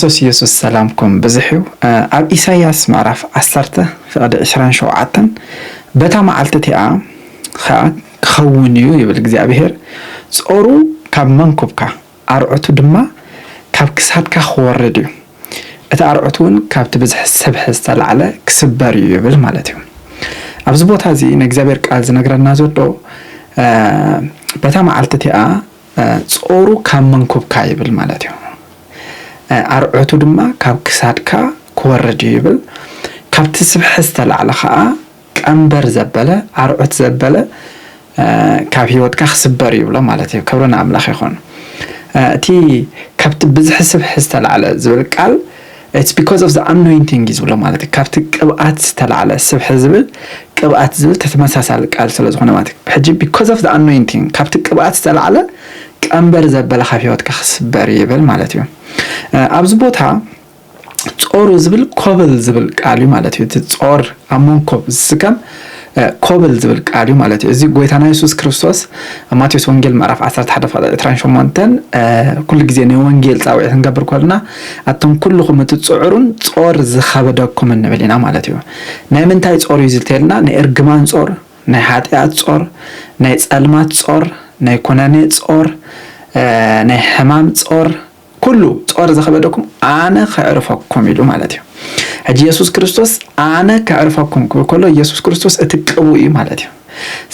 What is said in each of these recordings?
ክርስቶስ ኢየሱስ ሰላምኩም ብዝሕ እዩ። ኣብ ኢሳይያስ ምዕራፍ ዓሰርተ ፍቕዲ ዕስራን ሸውዓተን በታ መዓልቲ እቲኣ ኸኣ ክኸውን እዩ ይብል እግዚኣብሄር፣ ጾሩ ካብ መንኵብካ፣ ኣርዑቱ ድማ ካብ ክሳድካ ክወርድ እዩ፣ እቲ ኣርዑቱውን ካብቲ ብዝሒ ሰብሒ ዝተላዕለ ክስበር እዩ ይብል ማለት እዩ። ኣብዚ ቦታ እዚ ናይ እግዚኣብሄር ቃል ዝነግረና ዘሎ በታ መዓልቲ እቲኣ፣ ጾሩ ካብ መንኩብካ ይብል ማለት እዩ። ኣርዑቱ ድማ ካብ ክሳድካ ክወርድ እዩ ይብል። ካብቲ ስብሐ ዝተላዕለ ከኣ ቀንበር ዘበለ፣ ኣርዑት ዘበለ ካብ ህይወትካ ክስበር ይብሎ ማለት እዩ። ክብሪ ንኣምላኽ ይኹን። እቲ ካብቲ ብዝሒ ስብሐ ዝተላዕለ ዝብል ቃል It's because of the anointing እዩ ዝብሎ ማለት እዩ ካብቲ ቅብኣት ዝተላዕለ ስብሒ ዝብል ቅብኣት ዝብል ተተመሳሳሊ ቃል ስለ ዝኾነ ማለት እዩ ሕጂ because of the anointing ካብቲ ቅብኣት ዝተላዕለ ቀንበር ዘበለ ካብ ህይወትካ ክስበር ይብል ማለት እዩ ኣብዚ ቦታ ጾሩ ዝብል ኮብል ዝብል ቃል እዩ ማለት እዩ እቲ ጾር ኣብ መንኮብ ዝስከም ኮብል ዝብል ቃል እዩ ማለት እዩ። እዚ ጎይታና የሱስ ክርስቶስ ኣብ ማቴዎስ ወንጌል ምዕራፍ 11 ፍቕዲ 28 ኩሉ ግዜ ናይ ወንጌል ጻውዒት ክንገብር ኮልና ኣቶም ኩልኹም እቲ ጽዑሩን ጾር ዝኸበደኩም እንብል ኢና ማለት እዩ። ናይ ምንታይ ጾር እዩ ዝልተየልና ናይ እርግማን ጾር፣ ናይ ሓጢኣት ጾር፣ ናይ ጸልማት ጾር፣ ናይ ኩነኔ ጾር፣ ናይ ሕማም ጾር፣ ኩሉ ጾር ዘኸበደኩም ኣነ ከዕርፈኩም ኢሉ ማለት እዩ። ሕጂ የሱስ ክርስቶስ ኣነ ከዕርፈኩም ክብል ከሎ የሱስ ክርስቶስ እቲ ቅቡእ እዩ ማለት እዩ።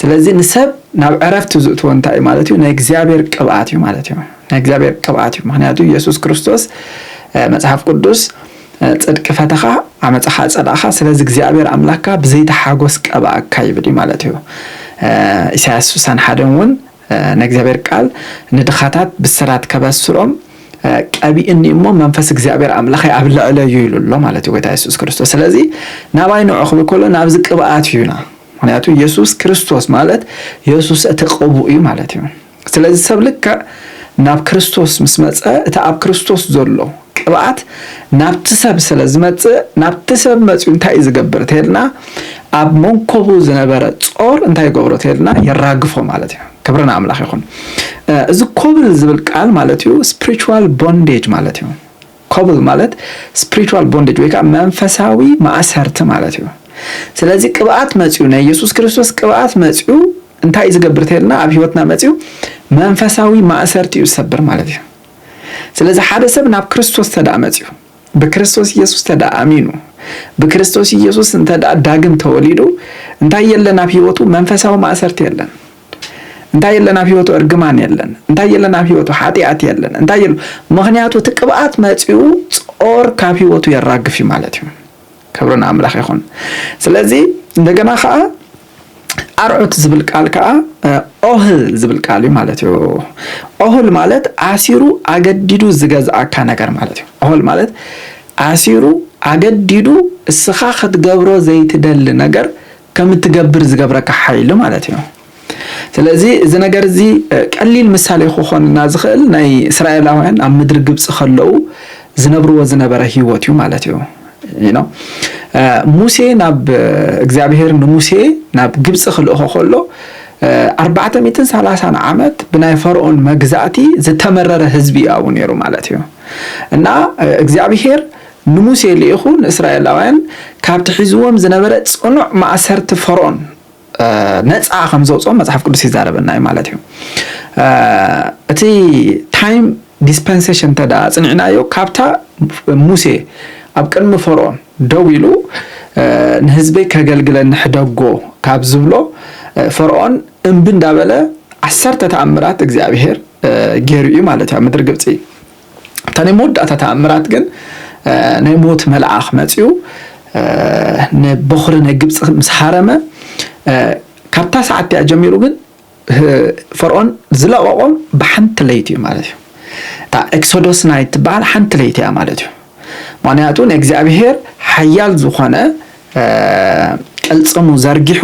ስለዚ ንሰብ ናብ ዕረፍቲ ዝእትዎ እንታይ እዩ ማለት እዩ? ናይ እግዚኣብሔር ቅብኣት እዩ ማለት እዩ። ናይ እግዚኣብሔር ቅብኣት እዩ። ምክንያቱ የሱስ ክርስቶስ መጽሓፍ ቅዱስ ጽድቂ ፈተኻ ዓመጻኻ ጸላእኻ ስለዚ እግዚኣብሔር ኣምላካ ብዘይተሓጎስ ቀብኣካ ይብል እዩ ማለት እዩ። ኢሳያስ 61 እውን ናይ እግዚኣብሔር ቃል ንድኻታት ብስራት ከበስሮም ቀቢእኒ እሞ መንፈስ እግዚኣብሔር ኣምላኸይ ኣብ ልዕለይ እዩ ኢሉ ኣሎ ማለት እዩ ጎይታ የሱስ ክርስቶስ ስለዚ ናባይ ንዑ ክብል ከሎ ናብዚ ቅብኣት እዩና ምክንያቱ የሱስ ክርስቶስ ማለት የሱስ እቲ ቅቡእ እዩ ማለት እዩ ስለዚ ሰብ ልክዕ ናብ ክርስቶስ ምስ መፀ እቲ ኣብ ክርስቶስ ዘሎ ቅብኣት ናብቲ ሰብ ስለ ዝመጽእ ናብቲ ሰብ መጺኡ እንታይ እዩ ዝገብር ተይልና ኣብ መንኮቡ ዝነበረ ጾር እንታይ ይገብሮ ተይልና የራግፎ ማለት እዩ ክብሪ ንኣምላኽ ይኹን እዚ ኮብል ዝብል ቃል ማለት እዩ ስፕሪቹዋል ቦንዴጅ ማለት እዩ ኮብል ማለት ስፕሪቹዋል ቦንዴጅ ወይ ከዓ መንፈሳዊ ማእሰርቲ ማለት እዩ ስለዚ ቅብኣት መፅኡ ናይ ኢየሱስ ክርስቶስ ቅብኣት መፅኡ እንታይ እዩ ዝገብር ተልና ኣብ ህይወትና መፅኡ መንፈሳዊ ማእሰርቲ እዩ ዝሰብር ማለት እዩ ስለዚ ሓደ ሰብ ናብ ክርስቶስ ተደኣ መጺኡ ብክርስቶስ ኢየሱስ ተደኣ ኣሚኑ ብክርስቶስ ኢየሱስ እንተደኣ ዳግም ተወሊዱ እንታይ የለን ኣብ ሕይወቱ መንፈሳዊ ማእሰርቲ የለን እንታይ የለን ኣብ ህይወቱ እርግማን የለን እንታይ የለን ኣብ ህይወቱ ሓጢኣት የለን እንታይ የለ ምክንያቱ እቲ ቅብኣት መፂኡ ጾር ካብ ህይወቱ የራግፍ እዩ ማለት እዩ ክብርን ኣምላኽ ይኹን ስለዚ እንደገና ከዓ ኣርዑት ዝብል ቃል ከኣ ኦህል ዝብል ቃል እዩ ማለት እዩ። ኦህል ማለት ኣሲሩ ኣገዲዱ ዝገዝኣካ ነገር ማለት እዩ። ኦህል ማለት ኣሲሩ ኣገዲዱ እስኻ ክትገብሮ ዘይትደሊ ነገር ከም እትገብር ዝገብረካ ሓይሊ ማለት እዩ። ስለዚ እዚ ነገር እዚ ቀሊል ምሳሌ ክኾንና ዝኽእል ናይ እስራኤላውያን ኣብ ምድሪ ግብፂ ከለዉ ዝነብርዎ ዝነበረ ህይወት እዩ ማለት እዩ። ሙሴ ናብ እግዚኣብሔር ንሙሴ ናብ ግብፂ ክልእኾ ከሎ ኣርባዕተ ሚእትን ሰላሳን ዓመት ብናይ ፈርኦን መግዛእቲ ዝተመረረ ህዝቢ እዩ ኣብኡ ነይሩ ማለት እዩ እና እግዚኣብሔር ንሙሴ ልኢኹ ንእስራኤላውያን ካብቲ ሒዝዎም ዝነበረ ጽኑዕ ማእሰርቲ ፈርኦን ነፃ ከም ዘውፅኦም መፅሓፍ ቅዱስ ይዛረበና እዩ ማለት እዩ። እቲ ታይም ዲስፐንሴሽን እንተ ፅኒዕናዮ ካብታ ሙሴ ኣብ ቅድሚ ፈርኦን ደው ኢሉ ንህዝበይ ከገልግለኒ ሕደጎ ካብ ዝብሎ ፈርኦን እምቢ እንዳበለ ዓሰርተ ተኣምራት እግዚኣብሄር ገይሩ እዩ ማለት እዩ ኣብ ምድሪ ግብፂ እታ ናይ መወዳእታ ተኣምራት ግን ናይ ሞት መልኣኽ መጺኡ ንበዅሪ ናይ ግብጺ ምስ ሃረመ፣ ካብታ ሰዓት እቲኣ ጀሚሩ ግን ፈርኦን ዝለቐቖም ብሓንቲ ለይቲ እዩ ማለት እዩ። እታ ኤክሶዶስ ናይት ትበሃል ሓንቲ ለይቲ እያ ማለት እዩ። ምኽንያቱ ንእግዚኣብሄር ሓያል ዝኾነ ቅልጽሙ ዘርጊሑ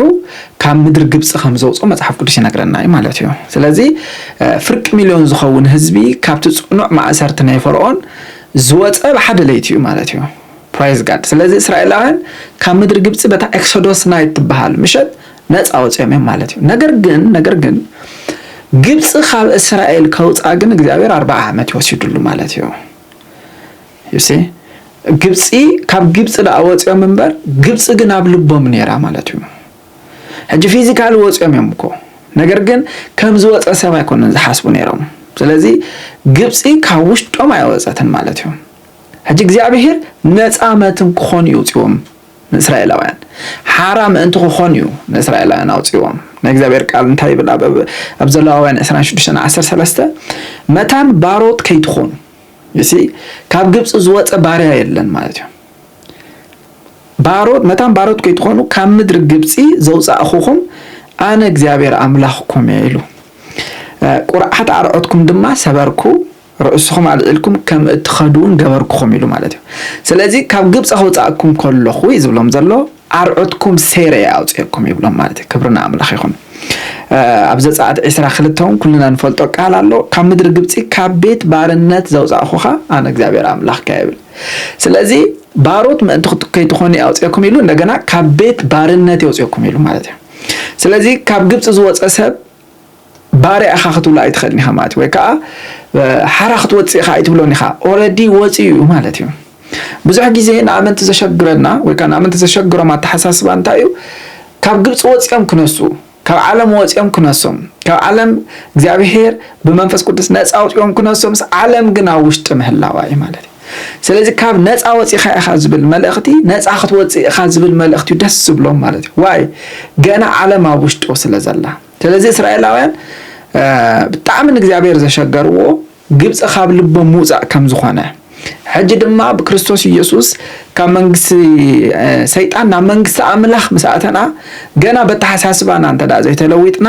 ካብ ምድሪ ግብጺ ከም ዘውጽኦ መጽሓፍ ቅዱስ ይነግረና እዩ ማለት እዩ። ስለዚ ፍርቂ ሚልዮን ዝኸውን ህዝቢ ካብቲ ጽኑዕ ማእሰርቲ ናይ ፈርኦን ዝወጸ ብሓደ ለይቲ እዩ ማለት እዩ። ፕራይዝ ጋድ ስለዚ እስራኤላውያን ካብ ምድሪ ግብጺ በታ ኤክሶዶስ ናይት ትበሃል ምሸት ነጻ ወጺኦም እዮም ማለት እዩ። ነገር ግን ነገር ግን ግብጺ ካብ እስራኤል ከውጻ ግን እግዚኣብሔር ኣርብዓ ዓመት እዩ ወሲድሉ ማለት እዩ። You see ግብጺ ካብ ግብጺ ደኣ ወጽዮም እምበር ግብጺ ግን ኣብ ልቦም ነይራ ማለት እዩ ሕጂ ፊዚካሊ ወጽዮም እዮም እኮ ነገር ግን ከም ዝወጸ ሰብ ኣይኮነን ዝሓስቡ ነይሮም ስለዚ ግብጺ ካብ ውሽጦም ኣይወጸትን ማለት እዩ ሕጂ እግዚኣብሄር ነፃ መትም ክኾኑ እዩ ውፅዎም ንእስራኤላውያን ሓራ ምእንቲ ክኾኑ እዩ ንእስራኤላውያን ኣውፅዎም ናይ እግዚኣብሔር ቃል እንታይ ይብል ኣብ ዘለዋውያን 26 13 መታን ባሮት ከይትኾኑ ዩሲ ካብ ግብፂ ዝወፀ ባርያ የለን ማለት እዩ ባሮት መታን ባሮት ከይትኾኑ ካብ ምድሪ ግብፂ ዘውፃእኹኹም ኣነ እግዚኣብሔር ኣምላኽኩም እየ ኢሉ ቁርዓት ኣርዖትኩም ድማ ሰበርኩ ርእስኹም ኣልዒልኩም ከም እትኸዱ እውን ገበርኩኹም ኢሉ ማለት እዩ ስለዚ ካብ ግብፂ ከውፃእኩም ከለኹ እዩ ዝብሎም ዘሎ ኣርዑትኩም ሴሬ ኣውጺኤኩም ይብሎም ማለት እዩ ክብሪ ንኣምላኽ ይኹን ኣብ ዘጸኣት ዕስራ ክልተ እውን ኩልና ንፈልጦ ቃል ኣሎ ካብ ምድሪ ግብጺ ካብ ቤት ባርነት ዘውጻእኹኻ ኣነ እግዚኣብሔር ኣምላኽካ ይብል ስለዚ ባሮት ምእንቲ ከይትኾኑ ኣውጺኤኩም ኢሉ እንደገና ካብ ቤት ባርነት የውጺኤኩም ኢሉ ማለት እዩ ስለዚ ካብ ግብጺ ዝወጸ ሰብ ባርያ ኢኻ ክትብሎ ኣይትኽእልን ኢኻ ማለት እዩ ወይ ከዓ ሓራ ክትወፅእ ኢኻ ኣይትብሎን ኢኻ ኦረዲ ወፂኡ እዩ ማለት እዩ ብዙሕ ግዜ ንኣመንቲ ዘሸግረና ወይ ከዓ ንኣመንቲ ዘሸግሮም ኣተሓሳስባ እንታይ እዩ ካብ ግብፂ ወፂኦም ክነሱ ካብ ዓለም ወፂኦም ክነሶም ካብ ዓለም እግዚኣብሄር ብመንፈስ ቅዱስ ነፃ ኣውፂኦም ክነሶምስ ዓለም ግን ኣብ ውሽጢ ምህላዋ እዩ ማለት እዩ ስለዚ ካብ ነፃ ወፂእኻ ኢኻ ዝብል መልእኽቲ ነፃ ክትወፅእ ኢኻ ዝብል መልእኽቲ እዩ ደስ ዝብሎም ማለት እዩ ዋይ ገና ዓለም ኣብ ውሽጡ ስለ ዘላ ስለዚ እስራኤላውያን ብጣዕሚ ንእግዚኣብሔር ዘሸገርዎ ግብፂ ካብ ልቦም ምውፃእ ከም ዝኾነ ሕጂ ድማ ብክርስቶስ ኢየሱስ ካብ መንግስቲ ሰይጣን ናብ መንግስቲ ኣምላኽ ምስ ኣተና ገና በተሓሳስባና እንተ ዘይተለዊጥና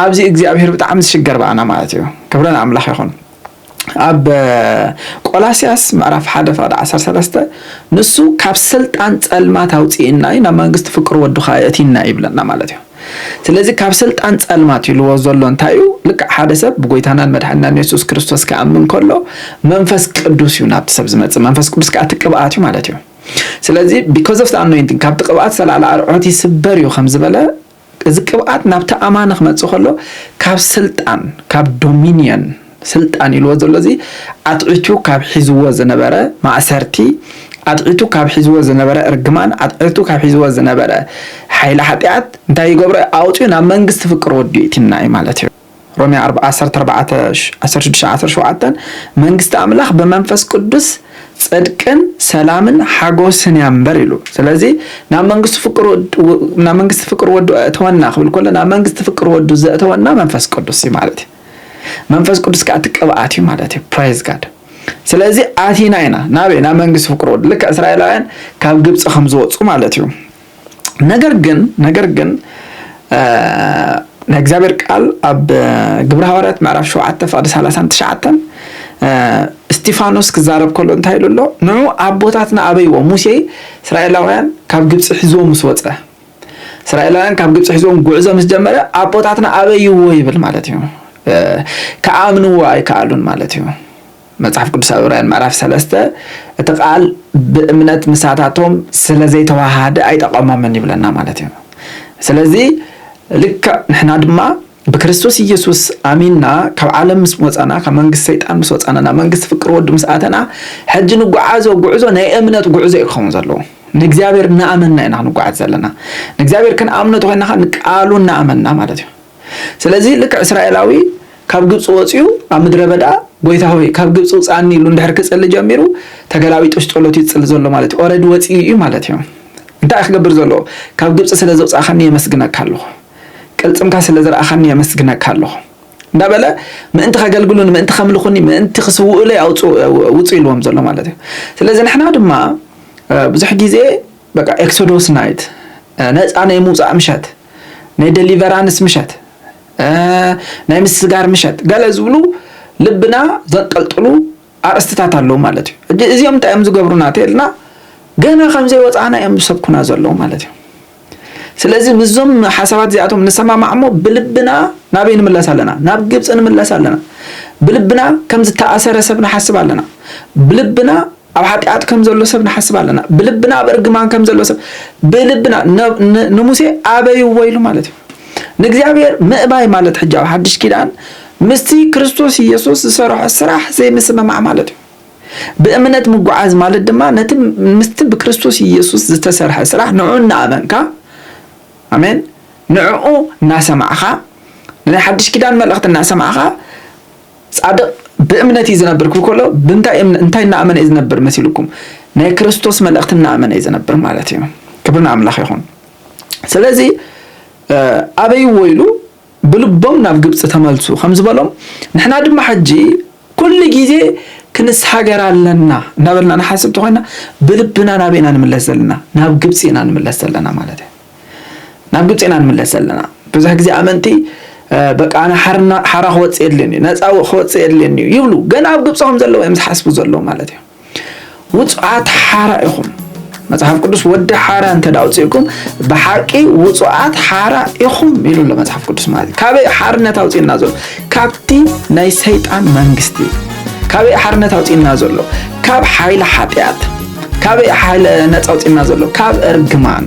ኣብዚ እግዚኣብሔር ብጣዕሚ ዝሽገር በኣና ማለት እዩ ክብረን ኣምላኽ ይኹን ኣብ ቆላስያስ ምዕራፍ ሓደ ፍቅዲ ዓሰርተ ሰለስተ ንሱ ካብ ስልጣን ጸልማት ኣውጺእና እዩ ናብ መንግስቲ ፍቅሩ ወዱ ከኣ የእቲና እዩ ይብለና ማለት እዩ። ስለዚ ካብ ስልጣን ጸልማት ኢልዎ ዘሎ እንታይ እዩ? ልክዕ ሓደ ሰብ ብጎይታናን መድሓኒናን የሱስ ክርስቶስ ክኣምን ከሎ መንፈስ ቅዱስ እዩ ናብቲ ሰብ ዝመጽእ መንፈስ ቅዱስ ከኣ እቲ ቅብኣት እዩ ማለት እዩ። ስለዚ because of the anointing ካብቲ ቅብኣት ዝተላዕለ ኣርዑት ይስበር እዩ ከም ዝበለ እዚ ቅብኣት ናብቲ ኣማኒ ክመጽእ ከሎ ካብ ስልጣን ካብ ዶሚንዮን ስልጣን ኢልዎ ዘሎ እዚ ኣትዒቱ ካብ ሒዝዎ ዝነበረ ማእሰርቲ ኣትዒቱ ካብ ሒዝዎ ዝነበረ እርግማን ኣትዒቱ ካብ ሒዝዎ ዝነበረ ሓይሊ ሓጢኣት እንታይ ይገብሮ ኣውጺኡ ናብ መንግስቲ ፍቅር ወዱ የእቲና እዩ ማለት እዩ። ሮሜ ዓሰርተ ኣርባዕተ ዓሰርተ ሽዱሽተ ዓሰርተ ሸውዓተ መንግስቲ ኣምላኽ ብመንፈስ ቅዱስ ጽድቅን ሰላምን ሓጎስን እያ እምበር ኢሉ ስለዚ ናብ መንግስቲ ፍቅሩ ናብ መንግስቲ ፍቅር ወዱ ኣእተወና ክብል ከሎ ናብ መንግስቲ ፍቅር ወዱ ዘእተወና መንፈስ ቅዱስ እዩ ማለት እዩ መንፈስ ቅዱስ ከዓ እቲ ቅብኣት እዩ ማለት እዩ ፕራይዝ ጋድ ስለዚ ኣቲና ኢና ናበይ ናብ መንግስቲ ፍቅር ወዱ ልክዕ እስራኤላውያን ካብ ግብፂ ከም ዝወፁ ማለት እዩ ነገር ግን ነገር ግን ናይ እግዚኣብሔር ቃል ኣብ ግብረ ሃዋርያት ምዕራፍ ሸውዓተ ፍቅዲ ሰላሳን ትሽዓተን እስጢፋኖስ ክዛረብ ከሎ እንታይ ኢሉ ኣሎ? ንዑ ኣቦታትና ኣበይዎ ሙሴ እስራኤላውያን ካብ ግብፂ ሒዝዎ ምስ ወፀ እስራኤላውያን ካብ ግብፂ ሒዝዎም ጉዕዞ ምስ ጀመረ ኣቦታትና ኣበይዎ ይብል ማለት እዩ። ከኣምንዎ ኣይከኣሉን ማለት እዩ። መጽሓፍ ቅዱስ ኣብ ዕብራውያን ምዕራፍ ሰለስተ እቲ ቃል ብእምነት ምሳታቶም ስለ ዘይተዋሃሃደ ኣይጠቐሞምን ይብለና ማለት እዩ። ስለዚ ልክዕ ንሕና ድማ ብክርስቶስ ኢየሱስ ኣሚንና ካብ ዓለም ምስ ወጻና ካብ መንግስቲ ሰይጣን ምስ ወጻና ናብ መንግስቲ ፍቅር ወዱ ምስ ኣተና ሕጂ ንጓዓዞ ጉዕዞ ናይ እምነት ጉዕዞ እዩ ክኸውን ዘለዎ። ንእግዚኣብሔር እናኣመንና ኢና ክንጓዓዝ ዘለና። ንእግዚኣብሔር ክንኣምኖ ተኾይና ኸኣ ንቃሉ እናኣመንና ማለት እዩ። ስለዚ ልክዕ እስራኤላዊ ካብ ግብጺ ወጺኡ ኣብ ምድረ በዳ ጎይታ ሆይ ካብ ግብጺ ውጽኣኒ ኢሉ እንድሕር ክጽሊ ጀሚሩ ተገላቢጦሽ ጸሎት እዩ ዝጽሊ ዘሎ ማለት እዩ ኦረዲ ወጺኡ እዩ ማለት እዩ እንታይ እዩ ክገብር ዘለዎ ካብ ግብጺ ስለ ዘውጻእካኒ የመስግነካ ኣለኹ ቅልጽምካ ስለ ዝረኣኻኒ የመስግነካ ኣለኹ እንዳበለ ምእንቲ ከገልግሉኒ ምእንቲ ከምልኹኒ ምእንቲ ክስውኡለይ ኣውጽኡ ውጹ ኢልዎም ዘሎ ማለት እዩ ስለዚ ንሕና ድማ ብዙሕ ግዜ በቃ ኤክሶዶስ ናይት ነፃ ናይ ምውፃእ ምሸት ናይ ደሊቨራንስ ምሸት፣ ናይ ምስጋር ምሸት ገለ ዝብሉ ልብና ዘንጠልጥሉ ኣርእስትታት ኣለዉ ማለት እዩ። ሕጂ እዚኦም እንታይ እዮም ዝገብሩና ተልና ገና ከም ዘይወፃእና እዮም ዝሰብኩና ዘለዉ ማለት እዩ። ስለዚ ምስዞም ሓሳባት እዚኣቶም ንሰማማዕ እሞ ብልብና ናበይ ንምለስ ኣለና? ናብ ግብፂ ንምለስ ኣለና። ብልብና ከም ዝተኣሰረ ሰብ ንሓስብ ኣለና። ብልብና ኣብ ሓጢኣት ከም ዘሎ ሰብ ንሓስብ ኣለና። ብልብና ኣብ እርግማን ከም ዘሎ ሰብ ብልብና ንሙሴ ኣበይዎ ኢሉ ማለት እዩ። ንእግዚኣብሔር ምእባይ ማለት ሕጂ ኣብ ሓድሽ ኪዳን ምስቲ ክርስቶስ ኢየሱስ ዝሰርሖ ስራሕ ዘይምስምማዕ ማለት እዩ። ብእምነት ምጉዓዝ ማለት ድማ ነቲ ምስቲ ብክርስቶስ ኢየሱስ ዝተሰርሐ ስራሕ ንዑ እናኣመንካ ኣሜን፣ ንዕኡ እናሰማዕኻ ናይ ሓድሽ ኪዳን መልእኽቲ እናሰማዕኻ ጻድቕ ብእምነት እዩ ዝነብር ክብል ከሎ ብምንታይ እምነ እንታይ እናኣመነ እዩ ዝነብር መሲልኩም ናይ ክርስቶስ መልእኽቲ እናኣመነ እዩ ዝነብር ማለት እዩ ክብሪ ንኣምላኽ ይኹን ስለዚ ኣበይዎ ኢሉ ብልቦም ናብ ግብፂ ተመልሱ ከም ዝበሎም ንሕና ድማ ሕጂ ኩሉ ግዜ ክንስ ሃገር ኣለና እናበልና ንሓስብ ተኾይና ብልብና ናበይ ኢና ንምለስ ዘለና ናብ ግብፂ ኢና ንምለስ ዘለና ማለት እዩ ናብ ግብጺ ኢና ንምለስ ዘለና ብዙሕ ግዜ ኣመንቲ በቃ ኣነ ሓርና ሓራ ክወጽእ የድልየኒ ነጻ ክወጽእ የድልየኒ እዩ ይብሉ ገና ኣብ ግብጺ ከም ዘለዉ እዮም ዝሓስቡ ዘለዉ ማለት እዩ ውጹዓት ሓራ ኢኹም መጽሓፍ ቅዱስ ወዲ ሓራ እንተ ኣውፅእኩም ብሓቂ ውጹዓት ሓራ ኢኹም ኢሉ ኣሎ መጽሓፍ ቅዱስ ማለት እዩ ካበይ ሓርነት ኣውፅእና ዘሎ ካብቲ ናይ ሰይጣን መንግስቲ ካበይ ሓርነት ኣውጺእና ዘሎ ካብ ሓይሊ ሓጢኣት ካበይ ሓይለ ነፃ ኣውጺእና ዘሎ ካብ እርግማን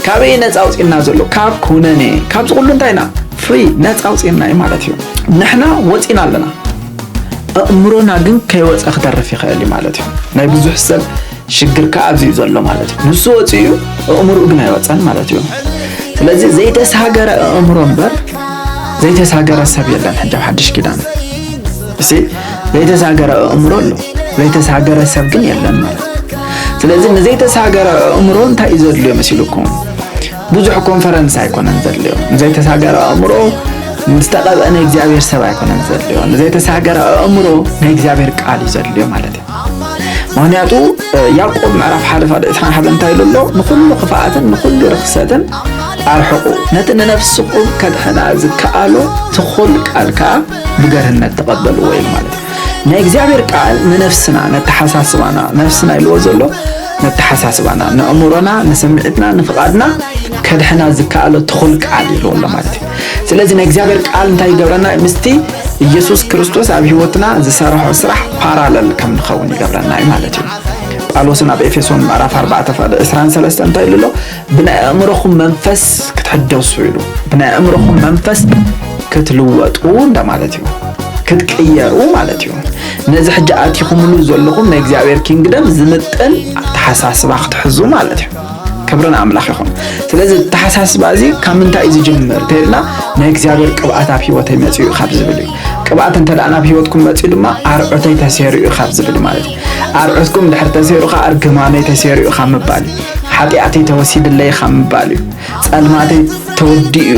ካበይ ነፃ ኣውጺእና ዘሎ ካብ ኩነኔ ካብዚ ኩሉ እንታይ ኢና ፍሪ ነፃ ኣውጺእና እዩ ማለት እዩ ንሕና ወፂና ኣለና ኣእምሮና ግን ከይወፀ ክተርፍ ይኽእል እዩ ማለት እዩ ናይ ብዙሕ ሰብ ሽግርካ ኣብዚ እዩ ዘሎ ማለት እዩ። ንሱ ወፂኡ እዩ ኣእምርኡ ግን ኣይወፀን ማለት እዩ። ስለዚ ዘይተሳገረ ኣእምሮ እምበር ዘይተሳገረ ሰብ የለን። ሕጂ ኣብ ሓድሽ ኪዳን እሲ ዘይተሳገረ ኣእምሮ ኣሎ፣ ዘይተሳገረ ሰብ ግን የለን ማለት እዩ። ስለዚ ንዘይተሳገረ ኣእምሮ እንታይ እዩ ዘድልዮ መሲልኩም? ብዙሕ ኮንፈረንስ ኣይኮነን ዘድልዮ። ንዘይተሳገረ ኣእምሮ ምስተቐብአ ናይ እግዚኣብሔር ሰብ ኣይኮነን ዘድልዮ። ንዘይተሳገረ ኣእምሮ ናይ እግዚኣብሔር ቃል እዩ ዘድልዮ ማለት እዩ። ምክንያቱ ያዕቆብ ምዕራፍ ሓደ ፋደ ዕስራን ሓደን እንታይ ኢሉ ኣሎ ንኩሉ ክፍኣትን ንኩሉ ርክሰትን ኣርሕቁ ነቲ ንነፍስኩም ከድሕና ዝከኣሎ ትኩል ቃል ከዓ ብገርህነት ተቐበልዎ ኢሉ ማለት እዩ ናይ እግዚኣብሔር ቃል ንነፍስና ነተሓሳስባና ነፍስና ኢልዎ ዘሎ ነተሓሳስባና ንእምሮና ንስምዒትና ንፍቓድና ከድሕና ዝከኣሎ ትኩል ቃል ኢልዎ ኣሎ ማለት እዩ ስለዚ ናይ እግዚኣብሔር ቃል እንታይ ይገብረና ምስቲ ኢየሱስ ክርስቶስ ኣብ ህይወትና ዝሰርሖ ስራሕ ፓራለል ከም ንኸውን ይገብረና እዩ ማለት እዩ ጳውሎስን ኣብ ኤፌሶን ምዕራፍ 4 ፍቕዲ 23 እንታይ ኢሉ ኣሎ ብናይ ኣእምሮኹም መንፈስ ክትሕደሱ ኢሉ ብናይ ኣእምሮኹም መንፈስ ክትልወጡ እንደማለት እዩ ክትቅየሩ ማለት እዩ ነዚ ሕጂ ኣቲኹምሉ ዘለኹም ናይ እግዚኣብሔር ኪንግደም ዝምጥን ኣተሓሳስባ ክትሕዙ ማለት እዩ ክብሪ ንኣምላኽ ይኹን። ስለዚ ተሓሳስባ እዚ ካብ ምንታይ እዩ ዝጅምር እንተይልና ናይ እግዚኣብሔር ቅብኣት ኣብ ሂወተይ መፅኡ ካብ ዝብል እዩ። ቅብኣት እንተ ናብ ሂወትኩም መፅኡ ድማ ኣርዑተይ ተሴሩ እዩ ካብ ዝብል ማለት እዩ። ኣርዑትኩም ድሕር ተሴሩ ከዓ እርግማነይ ተሴሩ እዩ ካብ ምባል እዩ። ሓጢኣተይ ተወሲድለይ ካብ ምባል እዩ። ፀልማተይ ተወዲኡ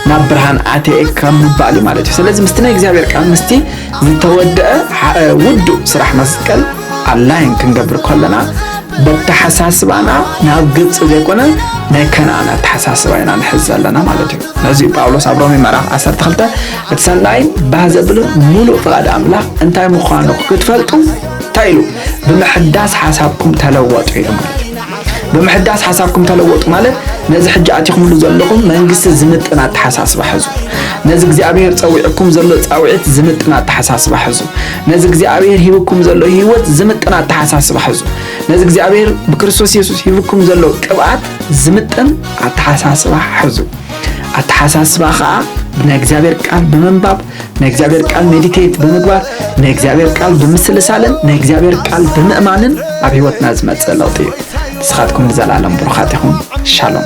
ናብ ብርሃን ኣትየ ካብ ምባል እዩ ማለት እዩ። ስለዚ ምስቲ ናይ እግዚኣብሔር ቃል ምስቲ ዝተወደአ ውዱእ ስራሕ መስቀል ኣላይን ክንገብር ከለና በተሓሳስባና ናብ ግብፂ ዘይኮነ ናይ ከነኣን ኣተሓሳስባ ኢና ንሕዝ ዘለና ማለት እዩ ነዚ ጳውሎስ ኣብ ሮሜ ምዕራፍ 12 እቲ ሰናይን ባህ ዘብልን ሙሉእ ፍቓድ ኣምላኽ እንታይ ምዃኑ ክትፈልጡ እንታይ ኢሉ ብምሕዳስ ሓሳብኩም ተለወጡ ኢሉ ማለት ብምሕዳስ ሓሳብኩም ተለወጡ ማለት ነዚ ሕጂ ኣቲኹምሉ ዘለኹም መንግስቲ ዝምጥን ኣተሓሳስባ ሕዙ ነዚ እግዚኣብሔር ፀዊዕኩም ዘሎ ፃውዒት ዝምጥን ኣተሓሳስባ ሕዙ ነዚ እግዚኣብሔር ሂብኩም ዘሎ ህይወት ዝምጥን ኣተሓሳስባ ሕዙ። ነዚ እግዚኣብሔር ብክርስቶስ የሱስ ሂብኩም ዘሎ ቅብኣት ዝምጥን ኣተሓሳስባ ሕዙ። ኣተሓሳስባ ከዓ ናይ እግዚኣብሔር ቃል ብምንባብ ናይ እግዚኣብሔር ቃል ሜዲቴት ብምግባር ናይ እግዚኣብሔር ቃል ብምስልሳልን ናይ እግዚኣብሔር ቃል ብምእማንን ኣብ ህይወትና ዝመፅእ ለውጢ እዩ። ንስኻትኩም ንዘለኣለም ብሩኻት ይኹም። ሻሎም